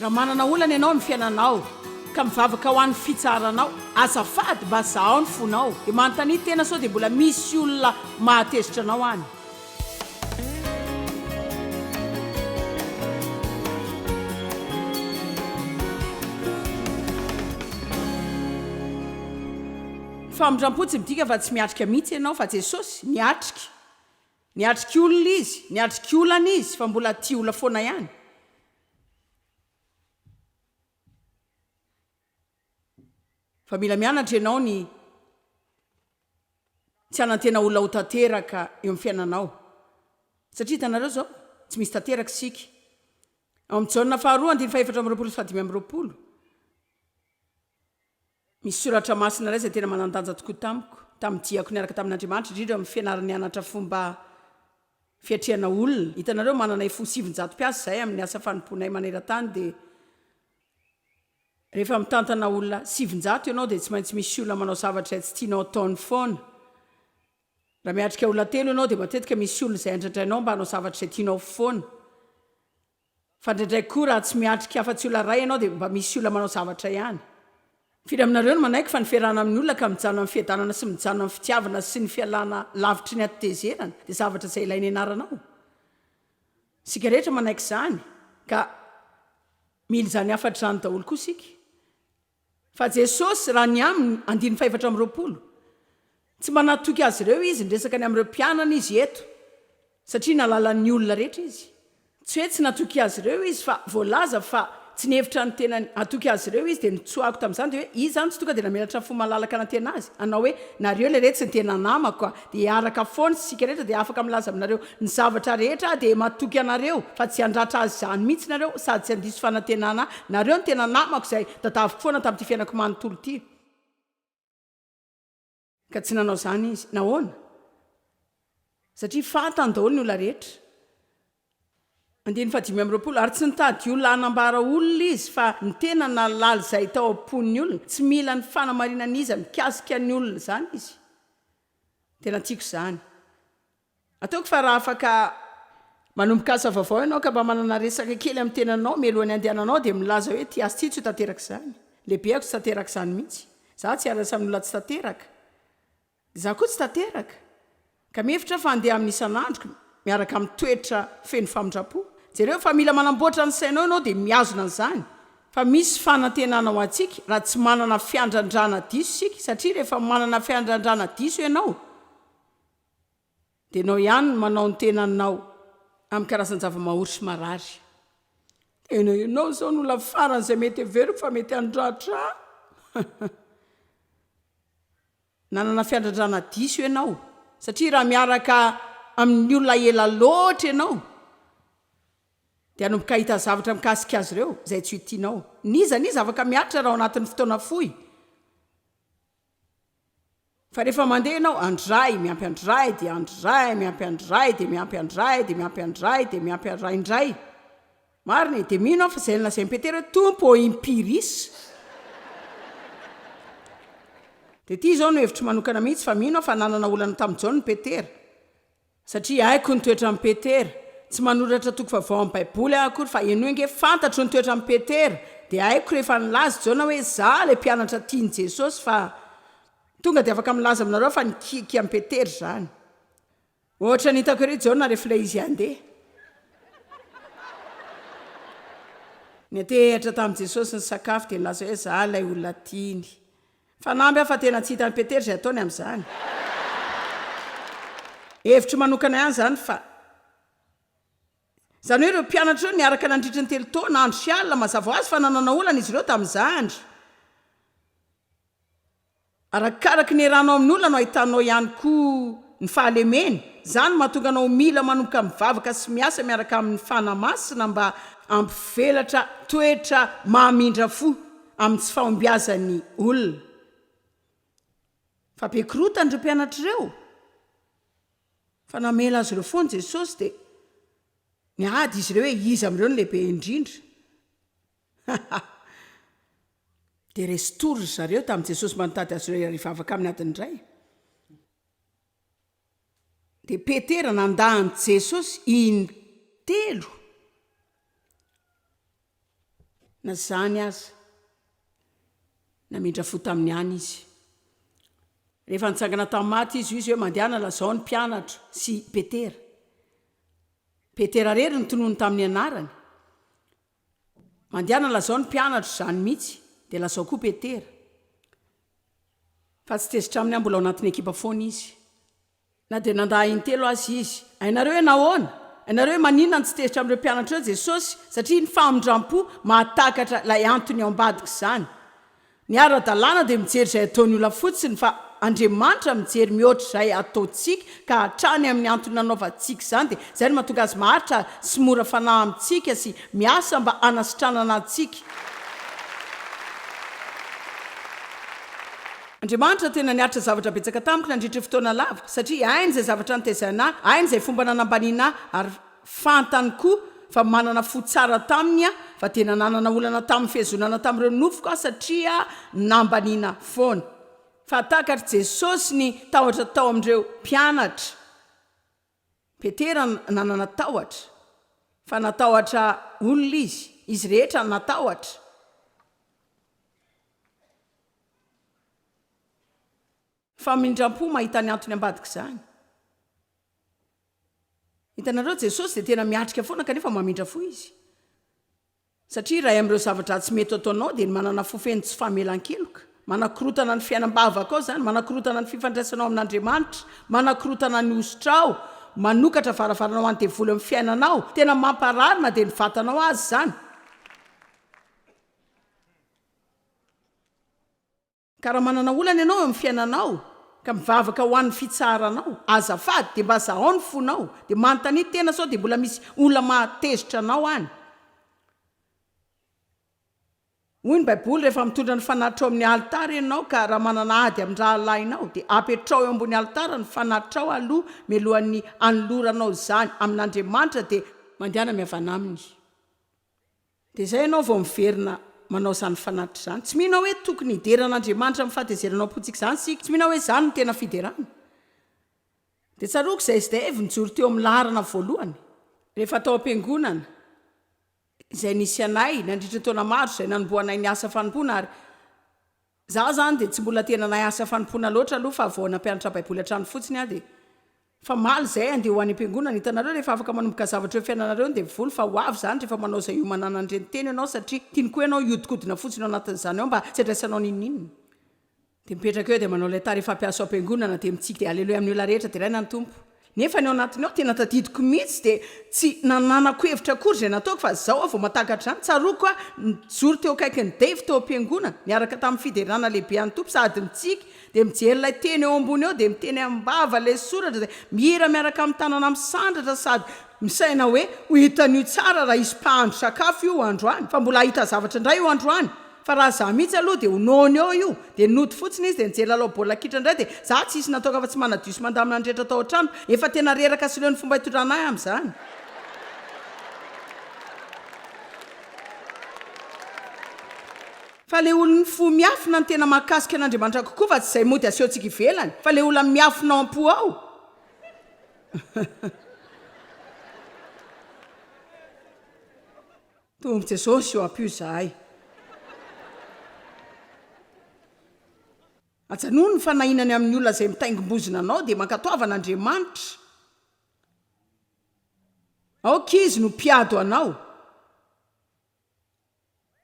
Raha manana olana ianao amin'ny fiainanao ka mivavaka ho an'ny fitsaharanao, azafady mba zahao ny fonao dia manontania tena sao dia mbola misy olona mahatezitra anao any. Famindrampo tsy midika fa tsy miatrika mihitsy ianao fa Jesosy niatrika. Niatrika olona Izy, niatrika olana Izy fa mbola tia olona foana ihany. Fa mila mianatra ianao ny tsy hanantena olona ho tanteraka eo amin'ny fiainanao. Satria hitanareo izao, tsy misy tanteraka isika. Ao amin'ny Jaona faharoa, andininy fahefatra amby roapolo sy fahadimy amby roapolo. Misy soratra masina iray izay tena manan-danja tokoa tamiko, tamin'ny diako niaraka tamin'Andriamanitra, indrindra amin'ny fianarany nianatra fomba fiatrehana olona. Hitanareo, manana iFo sivinjato mpiasa izahay amin'ny asa fanompoanay maneran-tany, dia rehefa mitantana olona sivinjato ianao, dia tsy maintsy misy olona manao zavatra izay tsy tianao ataony foana. Raha miatrika olona telo ianao, dia matetika misy olona izay andradrainao mba hanao zavatra izay tianao foana. Fa ndraindray koa raha tsy miatrika afa tsy olona ray ianao dia mba misy olona manao zavatra ihany. Firy aminareo no manaiky fa ny fiarahana amin'ny olona ka mijanona amin'ny fiadanana sy mijanona amin'ny fitiavana sy ny fialana lavitry ny hatitezerana dia zavatra izay ilaina ianarana ao? Isika rehetra manaiky izany ka mila izany hafatra izany daholo koa isika. Fa Jesosy, raha ny aminy, andininy fahefatra amby roapolo, tsy mba nahatoky azy ireo Izy niresaka ny amin'ireo mpianany Izy eto, satria nalalan'ny olona rehetra Izy. Tsy hoe tsy natoky azy ireo Izy, fa voalaza fa tsy nihevitra ny tenany hatoky azy ireo Izy, dia ny tsoahiko tamin'izany dia hoe, Izy izany tsy tonga dia namelatra fo malalaka nantenazy, hanao hoe, Nareo lery tsy ny tena namako, Dia araka foana isika rehetra dia afaka milaza aminareo ny zavatra rehetra aho dia matoky anareo fa tsy handratra azy izany mihitsy nareo sady tsy handiso fanantenana nareo ny tena namako izay tadaviko foana tamin'ity fiainako manontolo ity ka tsy nanao izany izy. Nahoana? Satria fantany daholo ny olona rehetra. Andininy fahadimy amby roapolo, Ary tsy nitady olona hanambara olona izy, fa ny tena nahalala izay tao am-pon'ny olona. Tsy mila ny fanamarinan'iza mikasika ny olona izany izy. Tena tiako izany. Ataoko fa raha afaka. Manomboka asa vaovao ianao ka mba manana resaka kely amin'ny tenanao mialohan'ny handehananao dia milaza hoe ity asa ity tsy ho tanteraka izany. Lehibeko tsy tanteraka izany mihitsy. Izaho tsy hiarasa amin'olona tsy tanteraka. Izaho koa tsy tanteraka ka mihevitra aho fa handeha aminy isan'andro miaraka amin'ny toetra feno famindram-po. Jereo fa mila manamboatra ny sainao ianao dia mihazona an'izany fa misy fanantenana ho antsika raha tsy manana fiandrandrana diso isika satria rehefa manana fiandrandrana diso ianao, Dia enao ihany no manao ny tenanao amin'ny karazan-javamahory sy marary. Tena enao izao no olona farany izay mety heveriko fa mety handratra ahy. Nanana fiandradrana diso enao satria raha miaraka amin'ny olona ela loatra enao dia hanomboka hahita zavatra mikasika azy ireo izay tsy ho tianao. N'iza n'iza afaka miaritra raha ao anatin'ny fotoana fohy. Fa rehefa mandeha ianao, andry ray, miampy andry ray, dia andry ray, miampy andry ray, dia miampy andry ray, dia miampy andry ray, dia miampy andry ray indray. Marina e! Dia mino aho fa izay nolazain'i Petera hoe, Tompo ô, impiris! Dia ity izao no hevitro manokana mihitsy, fa mino aho fa nanana olana tamin'i Jaona i Petera. Satria haiko ny toetran'i Petera, tsy manoratra toko vaovao amin'ny Baiboly aho akory fa henoy ange fantatro ny toetran'i Petera, dia haiko rehefa nilaza i Jaona hoe izaho ilay mpianatra tian'i Jesosy fa tonga dia afaka milaza aminareo fa nikiakia an'i Petera izany. Ohatrany hitako ery Jaona rehefa ilay izy handeha. Niantehatra tamin'i Jesosy nisakafo dia nilaza hoe izaho ilay olona tiany. Fanamby aho fa tena tsy hitan'i Petera izay ataony amin'izany. Hevitro manokana ihany izany fa. Izany hoe ireo mpianatra ireo niaraka nandritry ny telo taona, andro sy alina, mazava ho azy fa nanana olana izy ireo tamin'izany. Arakaraky ny eranao amin'ny olona no ahitanao ihany koa ny fahalemeny. Izany no mahatonga anao ho mila manomboka mivavaka sy miasa miaraka amin'ny Fanahy Masina mba hampivelatra toetra mamindra fo. amin'ny tsy fahombiazan'ny olona. Fa be korotany ireo mpianatra ireo, fa namela azy ireo foana Jesosy dia niady izy ireo hoe iza amin'ireo no lehibe indrindra. Dia resin-tory ry zareo tamin'i Jesosy mba nitady azy ireo hiara-hivavaka aminy adiny iray. Dia Petera nandà an'i Jesosy in telo na izany aza. Namindra fo tamin'ny any izy. Rehefa nitsangana tamin'ny maty Izy, hoy Izy hoe, Mandehana, lazao ny mpianatra sy Petera. Petera irery no tonony tamin'ny anarany. Mandehana lazao ny mpianatro izany mihitsy dia lazao koa Petera fa tsy tezitra aminy aho mbola ao anatin'ny ekipa foana izy na dia nandà intelo aza izy. Hainareo hoe nahoana? Hainareo hoe maninona no tsy tezitra amin'ireo mpianatra ireo Jesosy? Satria ny famindram-po mahatakatra ilay antony ao ambadika izany. Ny ara-dalàna dia mijery izay ataon'ny olona fotsiny fa Andriamanitra mijery mihoatra izay ataontsika ka hatrany amin'ny antony nanaovantsika izany dia izay no mahatonga Azy maharitra sy mora fanahy amintsika sy miasa mba hanasitranana antsika. Andriamanitra tena niaritra zavatra betsaka tamiko nandritra fotoana lava satria hainy izay zavatra nitaizaina ahy, hainy izay fomba nanambaniana ahy ary. Fantany koa fa manana fo tsara taminy aho fa dia nananana olana tamin'ny fihazonana tamin'ireo nofiko aho satria nambaniana foana. Fahatakar'i Jesosy ny tahotra tao amin'ireo mpianatra. Petera nanana tahotra, fa natahotra olona izy. Izy rehetra natahotra. Famindram-po mahita ny antony ambadik'izany. Hitanareo, Jesosy dia tena miatrika foana kanefa mamindra fo Izy. Satria iray amin'ireo zavatra tsy mety ataonao dia ny manana fo feno tsy famelan-keloka. Manakorotana ny fiainam-bavakao izany, manakorotana ny fifandraisanao amin'Andriamanitra, manakorotana ny hosotrao, manokatra varavarana ho an'ny devoly amin'ny fiainanao. Tena mamparary na dia ny vatanao aza izany. Ka raha manana olana ianao eo amin'ny fiainanao, ka mivavaka ho an'ny fitsaharanao, azafady dia mba zahao ny fonao, dia manontania tena sao dia mbola misy olona mahatezitra anao any. Hoy ny Baiboly, Rehefa mitondra ny fanahitrao amin'ny alitara ianao, ka raha manana ady amin-drahalahinao, dia apetraho eo ambony alitara ny fanahitrao aloha mialohan'ny anoloranao izany amin'Andriamanitra, dia mandehana mihavana aminy. Dia izay ianao vao miverina manao izany fanatitra izany. Tsy mino aho hoe tokony hidera an'Andriamanitra amin'ny fahatezeranao am-pontsika izany isika. Tsy mino aho hoe izany no tena fiderana. Dia tsaroako izay sdf nijoro teo amin'ny laharana voalohany, rehefa tao am-piangonana, izay nisy anay nandritra ny taona maro, izay nanombohanay ny asa fanompoana, ary, Za zany dia tsy mbola tena nahay asa fanompoana loatra aloha fa vao nampianatra baiboly hatrany fotsiny aho dia famaly zay andeha ho any ampiangonana hitanareo rehefa afaka manomboka zavatra eo fiainanareo dia mivoly fa ho avy zany rehefa manao zay hiomanana an'ireny teny ianao satria tiany koa ianao hiodikodina fotsiny ao anatin'izany ao mba tsy andraisanao n'inon'inona dia mipetraka eo dia manao ilay tary efa ampiasa ao ampiangonana dia mitsiky dia aleloia amin'ny olona rehetra deraina ny tompo Nefa ny ao anatiny ao tena tadidiko mihitsy dia tsy nananako hevitra akory izay nataoko fa izao aho vao mahatakatra izany, tsaroako aho nijoro teo akaikin'i Dave tao am-piangonana niaraka tamin'ny fiderana lehibe an'ny Tompo sady mitsiky dia mijery ilay teny eo ambony eo dia miteny am-bava ilay soratra izay mihira miaraka amin'ny tanana misandratra sady misaina hoe ho hitan'io tsara raha hisy mpahandro sakafo io androany fa mbola hahita zavatra indray io androany Fa raha za mihitsy aloha dia ho nono eo io, dia nody fotsiny izy dia nijery lalao baolina kitra indray dia za tsy hisy natoaka afa-tsy manadio sy mandamina ny rehetra tao an-trano, efa tena reraka sy leo ny fomba hitondrana ahy amin'izany. Fa le olon'ny fo miafina no tena mahakasika an'Andriamanitra kokoa fa tsy izay mody asehontsika ivelany, fa le olona miafina ao am-po ao. Tompo Jesosy ô ampio zahay. Ajanony ny fanahinany amin'ny olona izay mitaingim-bozona anao dia mankatoava an'Andriamanitra. Aoka Izy no mpiado anao.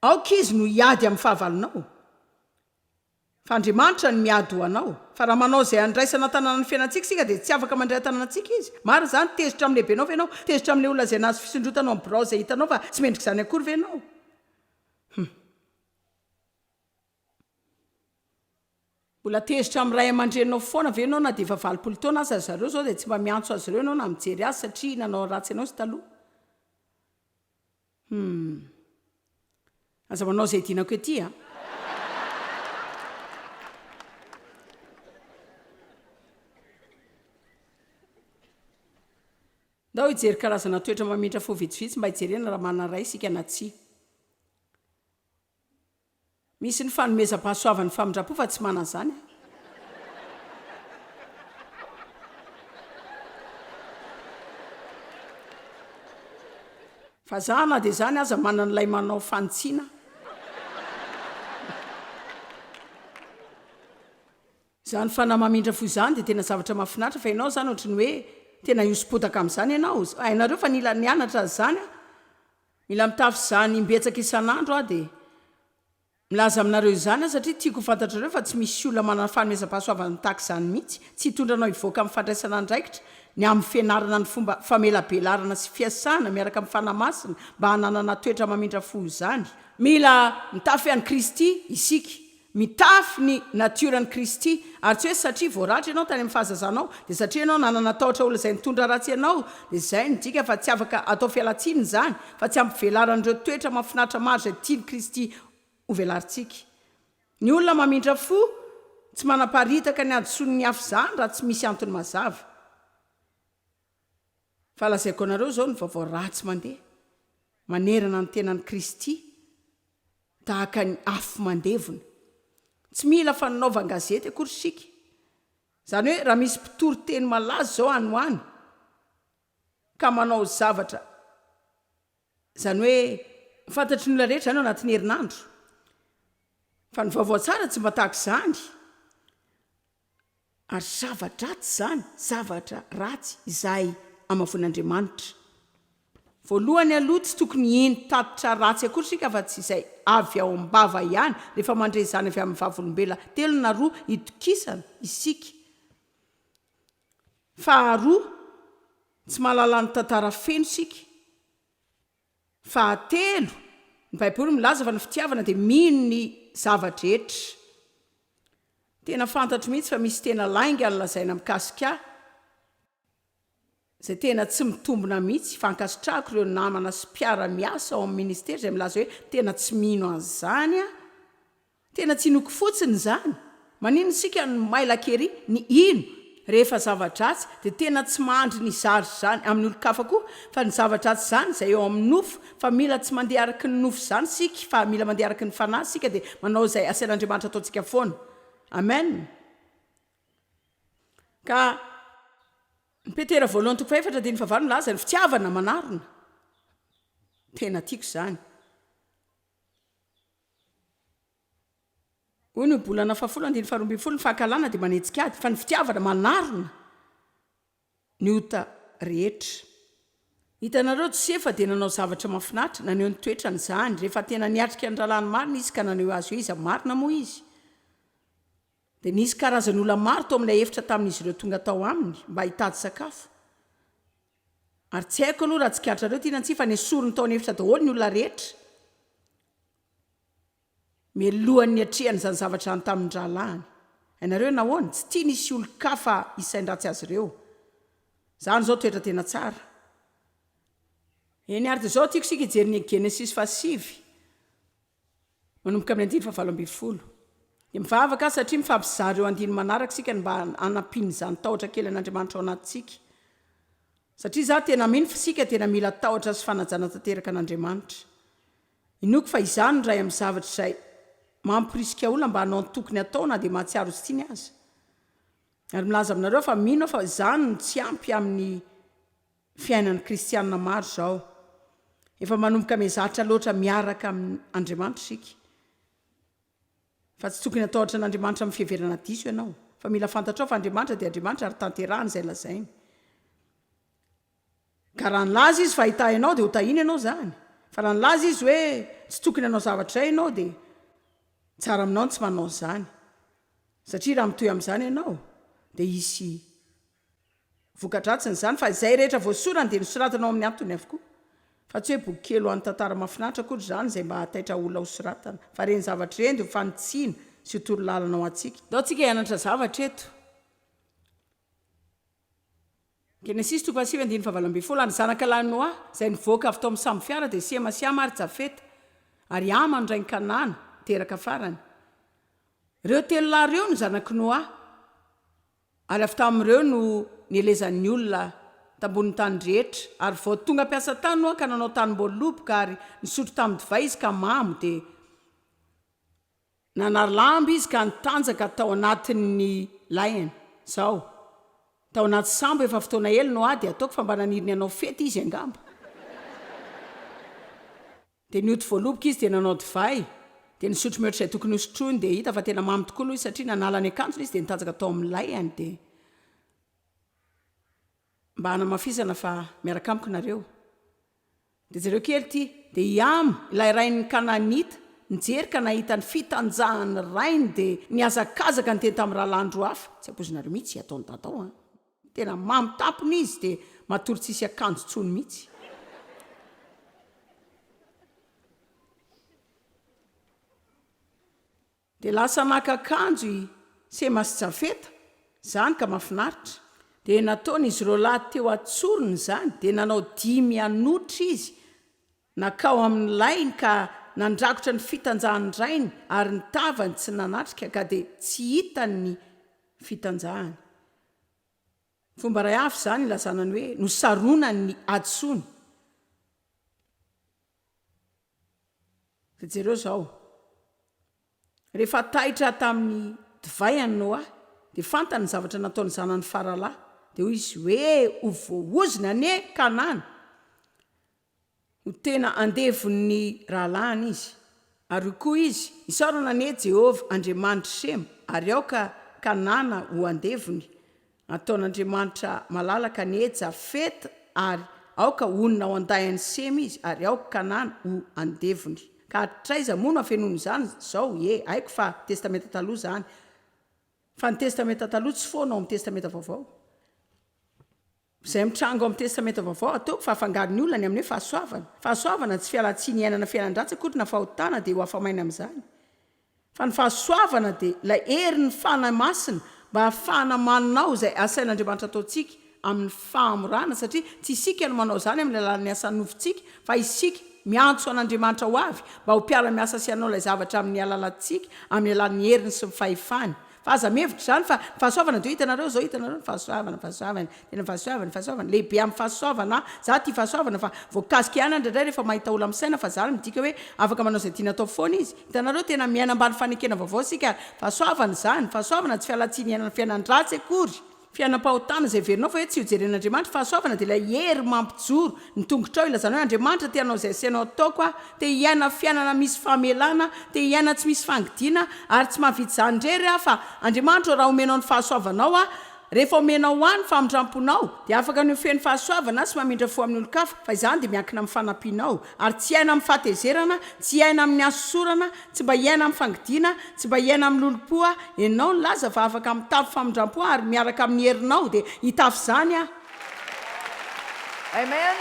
Aoka Izy no hiady amin'ny fahavalonao. Fa Andriamanitra no miady ho anao. Fa raha manao izay handraisana an-tanana ny fiainantsika isika dia tsy afaka mandray an-tanana antsika Izy. Marina izany, tezitra amin'ny lehibenao ve ianao? Tezitra amin'ilay olona izay nahazo fisondrotana ao amin'ny birao izay hitanao fa tsy mendrika izany akory ve ianao? Humm. Mbola tezitra amin'ny ray aman-dreninao foana ve ianao na dia efa valopolo taona aza ry zareo izao dia tsy mba miantso azy ireo ianao na mijery azy satria nanao ratsy anao izy taloha? Humm. Aza manao izay dinako ety a. Ndao hijery karazana toetra mamintra fo vitsivitsy mba hijerena raha manana ray isika na tsia. Misy ny fanomezam-pahasoavan'ny famindram-po fa tsy manana izany aho. Fa za na dia izany aza manana ilay manao fanitsiana. Izany fanahy mamindra fo izany dia tena zavatra mahafinaritra fa ianao izany ohatry ny hoe tena hihoso-potaka amin'izany ianao. Hainareo fa nila nianatra an'izany aho. Mila mitafy izany imbetsaka isan'andro aho dia milaza aminareo izany aho satria tiako ho fantatrareo fa tsy misy olona manana fanomezam-pahasoavana tahaka izany mihitsy, tsy hitondra anao hivoaka amin'ny fandraisana andraikitra ny amin'ny fianarana ny fomba famelabelarana sy fiasana miaraka amin'ny Fanahy Masina mba hananana toetra mamindra fo izany. Mila mitafy an'i Kristy isika Mitafy ny natioran'i Kristy. Ary tsy hoe satria voaratra ianao tany amin'ny fahazazanao, dia satria ianao nanana tahotra ho lazain'ny tondra ratsy ianao, dia izay no dika fa tsy afaka atao fialan-tsiny izany, fa tsy ampy velaran'ireo toetra mahafinaritra maro izay tian'i Kristy hovelarintsika. Ny olona mamindra fo, tsy manaparitaka ny hadisoan'ny hafa izany raha tsy misy antony mazava. Fa lazaiko anareo izao ny vaovao ratsy mandeha manerana ny tenan'i Kristy tahaka ny afo mandevona. Tsy mila fananaovan-gazety akory isika. Izany hoe raha misy mpitory teny malaza izao any ho any ka manao zavatra Izany hoe ho fantatry ny olona rehetra izany ao anatin'ny herinandro. Fa ny vaovao tsara tsy mba tahaka izany. Ary zava-dratsy izany, zavatra ratsy izay amavoin'Andriamanitra. Voalohany aloha tsy tokony hino tatitra ratsy akory isika afa tsy izay avy ao am-bava ihany, rehefa mandre izany avy amin'ny vavolombelona telo na roa itokisana isika. Faharoa, tsy mahalala ny tantara feno isika. Fahatelo, ny baiboly milaza fa ny fitiavana dia mino ny zava-drehetra. Tena fantatro mihitsy fa misy tena lainga ny lazaina mikasika ahy, izay tena tsy mitombina mihitsy, fa ankasitrahako ireo namana sy mpiara-miasa ao amin'ny ministera izay milaza hoe tena tsy mino an'izany aho. Tena tsy inoako fotsiny izany. Manino isika no maila kery ny hino rehefa zava-dratsy dia tena tsy mahandry ny zary izany amin'ny olon-kafa koa fa ny zava-dratsy izany izay eo amin'ny nofo fa mila tsy mandeha araky ny nofo izany isika fa mila mandeha araky ny fanahy isika dia manao izay asain'Andriamanitra ataontsika foana. Amen. Ka ny Petera voalohany toko fahefatra andininy fahavalo milaza ny fitiavana manarona. Tena tiako izany. Hoy ny Ohabolana fahafolo andininy faharoa ambin'ny folo, Ny fankahalana dia manetsika ady, fa ny fitiavana manarona ny ota rehetra. Hitanareo, Josefa dia nanao zavatra mahafinaritra, naneho ny toetrany izany. Rehefa tena niatrika ny rahalahiny marina izy ka naneho azy hoe iza marina moa izy, dia nisy karazan'olona maro tao amin'ilay efitra tamin'izy ireo tonga tao aminy mba hitady sakafo. Ary tsy haiko aloha raha tsikaritranareo ty na tsia fa nesoriny tao an'efitra daholo ny olona rehetra mialohan'ny niatrehany izany zavatra izany tamin'ny rahalahiny. Hainareo hoe nahoana? Tsy tiany hisy olon-kafa hisain-dratsy azy ireo. Izany izao toetra tena tsara. Eny ary dia izao tiako isika hijery ny Genesisy fahasivy. Manomboka amin'ny andiny fahavalo ambin'ny folo. Dia mivavaka aho satria mifampizara ireo andininy manaraka isika ny mba hanampian'izany tahotra kely an'Andriamanitra ao anatintsika. Satria izaho tena mino fa isika tena mila tahotra sy fanajana tanteraka an'Andriamanitra. Inoako fa izany no iray amin'ny zavatra izay mamporisika olona mba hanao ny tokony hatao na dia mahatsiaro ho tsy tiany aza. Ary milaza aminareo aho fa mino aho fa izany no tsy ampy amin'ny. Fiainan'ny kristiana maro izao. Efa manomboka mihazatra loatra miaraka amin'Andriamanitra isika. Fa tsy tokony hatahotra an'Andriamanitra amin'ny fiheverana diso ianao. Fa mila fantatrao fa Andriamanitra dia Andriamanitra ary tanterahany izay lazainy. Ka raha nilaza Izy fa hahitahy anao dia hotahiny ianao izany. Fa raha nilaza Izy hoe tsy tokony hanao zavatra izay ianao dia tsara aminao ny tsy manao an'izany. Satria raha mitohy amin'izany ianao dia hisy. Voka-dratsiny izany fa izay rehetra voasorany dia nosoratana ao amin'ny antony avokoa. Fa tsy hoe boky kely ho an'ny tantara mahafinaritra akory izany izay mba hahataitra olona hosoratana, fa ireny zavatra ireny dia ho fanitsiana sy ho torolalana ho antsika. Ndao tsika hianatra zavatra eto. Genesisy toko fahasivy andininy fahavalo ambin'ny folo, Ary ny zanaka lahin'i Noa, izay nivoaka avy tao amin'ny sambo fiara, dia Sema sy Hama ary Jafeta, ary Hama no rain'i Kanana, teraka farany. Ireo telo lahy ireo no zanak'i Noa. ary avy tamin'ireo no nielezan'ny olona tambonin'ny tany rehetra, ary vao tonga mpiasa tany Noa ka nanao tanim-boaloboka ary nisotro tamin-divay izy ka mamo, dia nanary lamba izy ka nitanjaka tao anatin'ny lainy. Zao. Tao anaty sambo efa fotoana ela Noa dia ataoko fa mba naniry ny hanao fety izy angamba. Dia nody voaloboka izy dia nanao divay, dia nisotro mihoatra izay tokony hosotroiny, dia hita fa tena mamy tokoa aloha izy satria nanala ny akanjony izy dia nitanjaka tao amin'ny layany, dia mba hanamafisana fa miaraka amiko nareo, dia jereo kely ity, dia i Am, ilay rain'ny Kanaanita, nijery ka nahita ny fitanjahan'ny rainy dia nihazakazaka niteny tamin'ny rahalahiny roa hafa, tsy ampoizinareo mihitsy ataon'i Dadao an! Tena mamy tampony izy de matory tsisy akanjo tsony mitsy. De lasa naka akanjo i Sema sy Jafeta zany ka mafinaritra. De nataony izy roalahy teo atsoriny zany de nanao dimy hanotra izy Nankao amin'ny lainy ka nandrakotra ny fitanjahan'ny rainy ary ny tavany tsy nanatrika ka dia tsy hitany ny fitanjahany. Fomba iray hafa izany ilazana ny hoe nosaronany ny hadisoany. Dia jereo izao, Rehefa taitra tamin'ny divay an'i Noa dia fantany ny zavatra nataon'ny zanany faralahy. Dia hoy izy, Hoe ho voahozona anie Kanana. Ho tena andevon'ny rahalahiny izy. Ary hoy koa izy, Isaorana anie Jehovah, Andriamanitr'i Sema, ary aoka Kanana ho andevony. Ataon'Andriamanitra malalaka anie Jafeta, ary aoka honina ao an-dahin'i Sema izy, ary aoka Kanana ho andevony. Ka hatraiza moa no afenoin'izany izao? Ie, haiko fa Testamenta Taloha izany, fa ny Testamenta Taloha tsy foana ao amin'ny Testamenta Vaovao. Izay mitranga ao amin'ny Testamenta Vaovao, ataoko fa afangaro ny olona ny amin'ny hoe fahasoavana. Fahasoavana, tsy fialan-tsiny iainana fiainan-dratsy akory na fahotana, dia ho afa-maina amin'izany. Fa ny fahasoavana dia ilay herin'ny Fanahy Masina mba hahafahana manao izay asain'Andriamanitra hataontsika amin'ny fahamorana, satria tsy isika no manao izany amin'ny alalan'ny asan'ny nofontsika, fa isika miantso an'Andriamanitra ho avy mba ho mpiara-miasa sy hanao ilay zavatra amin'ny alalantsika amin'ny alalan'ny heriny sy ny fahefany. Fa aza mihevitra izany fa ny fahasoavana dia hoe hitanareo izao hitanareo ny fahasoavana fahasoavana tena ny fahasoavana fahasoavana lehibe amin'ny fahasoavana an! Za tia fahasoavana fa voakasika ihany indraindray rehefa mahita olona misaina fa izany midika hoe afaka manao izay tiany atao foana izy. Hitanareo tena miaina ambany fanekena vaovao isika ary fahasoavana izany, fahasoavana tsy fialantsiny iainana fiainan-dratsy akory. Fiainam-pahotana izay heverinao fa hoe tsy hojeren'Andriamanitra. Fahasoavana dia ilay hery mampijoro ny tongotrao hilazanao hoe, Andriamanitra te hanao izay asainao ataoko aho, te hiaina fiainana misy famelana, te hiaina tsy misy fangidiana, ary tsy mahavita izany irery aho fa Andriamanitra ô raha omenao ny fahasoavanao aho, rehefa omenao ahy ny famindramponao dia afaka ny ho feno fahasoavana sy mamindra fo amin'ny olon-kafa, fa izany dia miankina amin'ny fanampianao, ary tsy hiaina amin'ny fahatezerana, tsy hiaina amin'ny hasosorana, Tsy mba hiaina amin'ny fangidiana, tsy mba hiaina amin'ny lolompo aho, enao nilaza fa afaka mitafy famindrampo ary miaraka amin'ny herinao dia hitafy izany aho. Amen.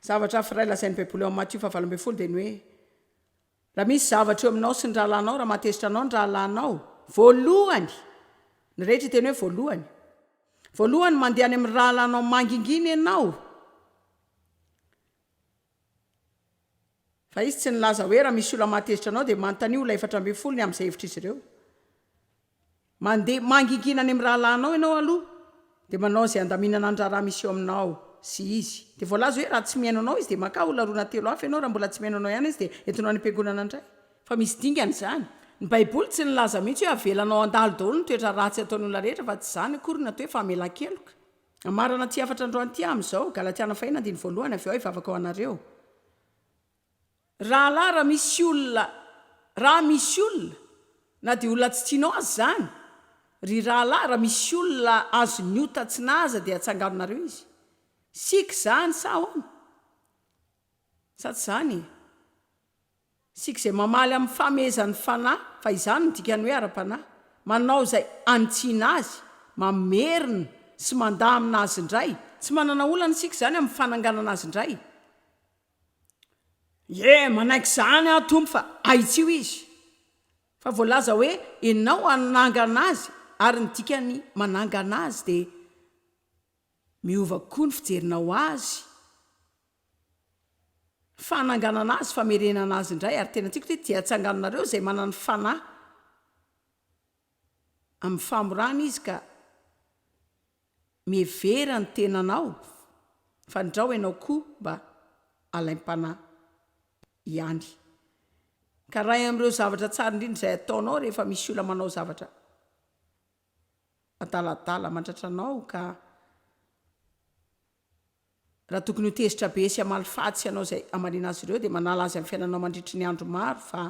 Zavatra hafa iray lazain'ny baiboly ao amin'ny Matio faha valo ambin'ny folo dia ny hoe. Raha misy zavatra eo aminao sy ny rahalahinao, raha mahatezitra anao ny rahalahinao, voalohany, ny rehetra hiteny hoe voalohany, voalohany mandeha any amin'ny rahalahinao mangingina ianao, fa izy tsy nilaza hoe raha misy olona mahatezitra anao dia manontania olona efatra ambin'ny folo ny amin'izay hevitr'izy ireo. Mandeha mangingina any amin'ny rahalahinao ianao aloha, dia manao izay handaminana ny raharaha misy eo aminao sy izy. Dia voalaza hoe raha tsy mihaino anao izy dia mankà ho laronà telo hafa ianao, raha mbola tsy mihaino anao ihany izy dia entinao any am-piangonana indray. Fa misy dingana izany. Ny Baiboly tsy nilaza mihitsy hoe avelanao handalo daholo ny toetra ratsy ataon'ny olona rehetra, fa tsy izany akory na atao hoe famelan-keloka. Amarana aty hafatra androany ity amin'izao, Galatiana fahiny andininy voalohany, Avy eo aho hivavaka ho anareo, Rahalahy raha misy olona raha misy olona, na dia olona tsy tianao aza izany, ry rahalahy, raha misy olona azon'ny ota tsy naza dia tsanganonareo izy. Sic izany sa ahoana? Sa tsy izany e? Sic izay mamaly amin'ny famehezan'ny Fanahy, fa izany no dikany hoe ara-panahy. Manao izay hanitsiana azy, mamerina sy mandamina azy indray, tsy manana olana isika izany amin'ny fananganana azy indray. Ie, manaiky izany aho Tompo fa ahitsio izy. Fa voalaza hoe Ianao hanangana azy ary ny dikan'ny manangana azy dia miova koa ny fijerinao azy, fananganana azy, famerenana azy indray ary tena tiako ity dia atsanganonareo izay manan'ny fanahy amin'ny famorana izy ka Mihevera ny tenanao fa ndrao ianao koa mba alaim-panahy ihany. Ka iray amin'ireo zavatra tsara indrindra izay ataonao rehefa misy olona manao zavatra adaladala mandratra anao ka raha tokony ho tezitra be sy hamaly faty sy hanao izay hamaliana azy ireo dia manala azy amin'ny fiainanao mandritry ny andro maro fa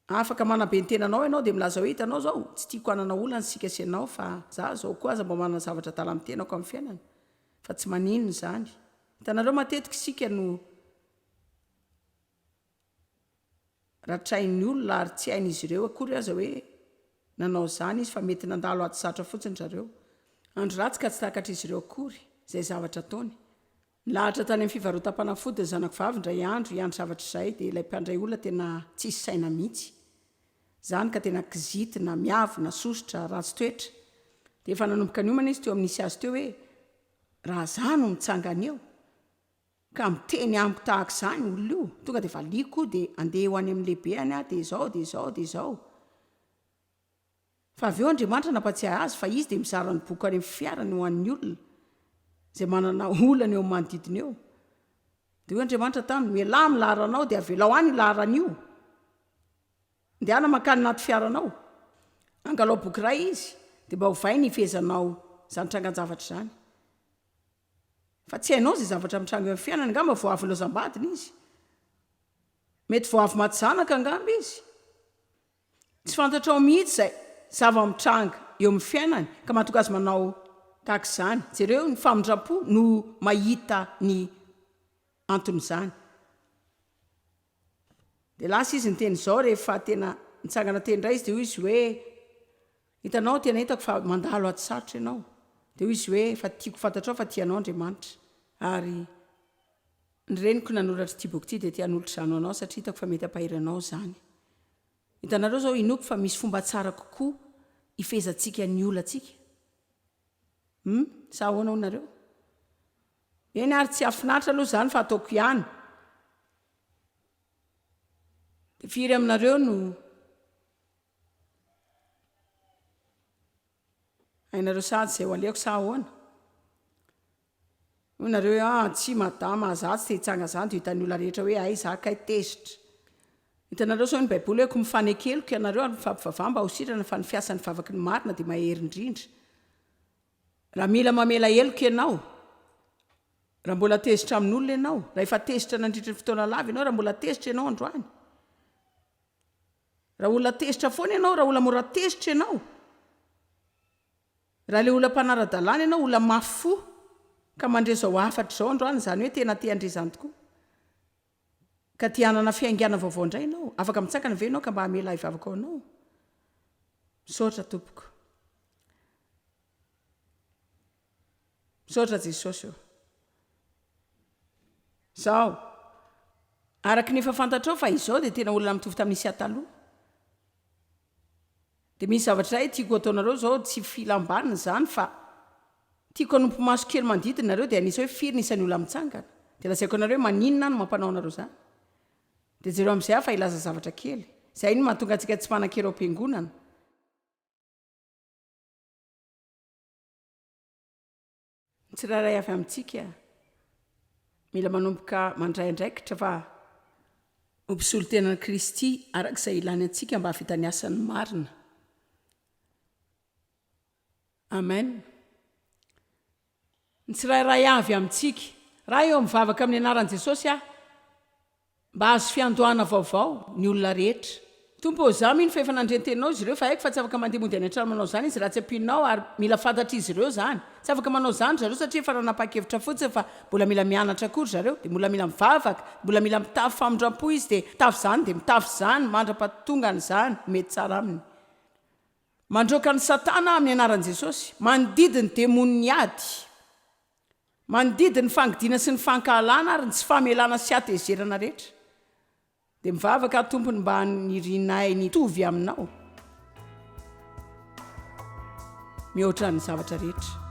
Afaka manabe ny tenanao ianao dia milaza hoe hitanao izao, tsy tiako hanana olana isika sy ianao fa za izao koa aza mba manana zavatra adala amin'ny tenako amin'ny fiainana fa tsy maninona izany. Hitanareo matetika isika no ratrain'ny olona ary tsy hain'izy ireo akory aza hoe nanao izany izy fa mety nandalo ady sarotra fotsiny zareo. Andro ratsy ka tsy takatr'izy ireo akory izay zavatra ataony. Nilahatra tany amin'ny fivarotam-panafody ny zanako vavy indray andro hiandry zavatra izahay dia ilay mpandray olona tena tsisy saina mihitsy izany ka tena kizitina, miavona, sosotra, ratsy toetra. Dia efa nanomboka niomana izy teo amin'ny nisy azy teo hoe raha izaho no mitsangana eo ka miteny amiko tahaka izany olona io, tonga dia valiako dia andeha ho any amin'ny lehibeny aho dia izao dia izao dia izao. Fa avy eo Andriamanitra nampatsiahy azy fa izy dia mizara ny boky any amin'ny fiarany ho an'ny olona izay manana olana eo amin'ny manodidina eo. Dia hoy Andriamanitra taminy, Mialà amin'ny laharanao dia avelao any io laharana io. Andehana mankany anaty fiaranao. Angalao boky iray izy, dia mba ovay ny hifehezanao izany trangan-javatra izany. Fa tsy hainao izay zavatra mitranga eo amin'ny fiainany. Angamba vao avy nilaozam-badiny izy. Mety vao avy maty zanaka angamba izy. Tsy fantatrao mihitsy izay zava-mitranga eo amin'ny fiainany ka mahatonga azy manao tahaka izany. Jereo ny famindram-po no mahita ny anton'izany. Dia lasa izy niteny izao rehefa tena nitsangana teny indray izy dia hoy izy hoe, hitanao tena hitako fa mandalo ady sarotra ianao. Dia hoy izy hoe, fa tiako fantatrao fa tia anao Andriamanitra ary. Ny reniko nanoratra ity boky ity dia te hanolotra izany ho anao satria hitako fa mety hampahery anao izany. Hitanareo izao inoako fa misy fomba tsara kokoa hifehezantsika ny olantsika. Hum, sa ahoana hoy nareo? Eny ary tsy hahafinaritra aloha izany fa ataoko ihany. Dia firy aminareo no Hainareo sady izay ho aleko sa ahoana? Hoy nareo hoe aa tsia madama a, za tsy te hitsanga zany de ho hitan'ny olona rehetra hoe hay za kay tezitra. Hitanareo zao ny baiboly hoe ko mifane keloka ianareo ary mifampivavaha mba ho sitrana fa ny fiasan'ny vavaky ny marina de mahery indrindra. Raha mila mamela heloka ianao, raha mbola tezitra amin'olona ianao, raha efa tezitra nandritry ny fotoana lava ianao, raha mbola tezitra ianao androany, Raha olona tezitra foana ianao, raha olona mora tezitra ianao, raha ilay olona mpanara-dalàna ianao, olona mafy fo, ka mandre izao hafatra izao androany, izany hoe tena te handre izany tokoa, ka te hanana fiaingàna vaovao indray ianao, afaka mitsangana ve ianao ka mba hamela ahy vavaka ho anao? Misaotra tompoko. Misaotra Jesosy ô. Zao. Araky ny efa fantatrao fa izao dia tena olona mitovy tamin'ny Isia taloha. Dia misy zavatra iray tiako ataonareo zao, tsy filam-baniny izany fa tiako hanompo maso kely manodidina nareo dia hanisa hoe firy ny isan'ny olona mitsangana. Dia lazaiko anareo hoe maninona no mampanao anareo izany. Dia jereo amin'izay aho fa hilaza zavatra kely. Izay no mahatonga antsika tsy mpanan-kery ao am-piangonana. Ny tsirairay avy amintsika mila manomboka mandray andraikitra fa ho mpisolo tena an'i Kristy araka izay ilany antsika mba hahavita ny asany marina. Amen. Ny tsirairay avy amintsika. Raha eo mivavaka amin'ny anaran'i Jesosy aho, Mba hahazo fiandohana vaovao ny olona rehetra. Tompo ô, izaho mino fa efa nandre ny Teninao izy ireo, fa haiko fa tsy afaka mandeha mody any an-trano manao izany izy raha tsy ampianao, ary mila fantatr'izy ireo izany. Tsy afaka manao izany ry zareo satria efa nanapa-kevitra fotsiny fa mbola mila mianatra koa ry zareo, dia mbola mila mivavaka, mbola mila mitafy famindram-po izy, dia mitafy izany, dia mitafy izany, mandra-pahatongany izany ho mety tsara aminy. Mandroaka an'i Satana amin'ny anaran'i Jesosy. Mandidy ny demonin'ny ady. Mandidy ny fangidiana sy ny fankahalana ary ny tsy famelana sy hatezerana rehetra. Dia mivavaka aho tompony mba hanirianay ny hitovy aminao mihoatra ny zavatra rehetra.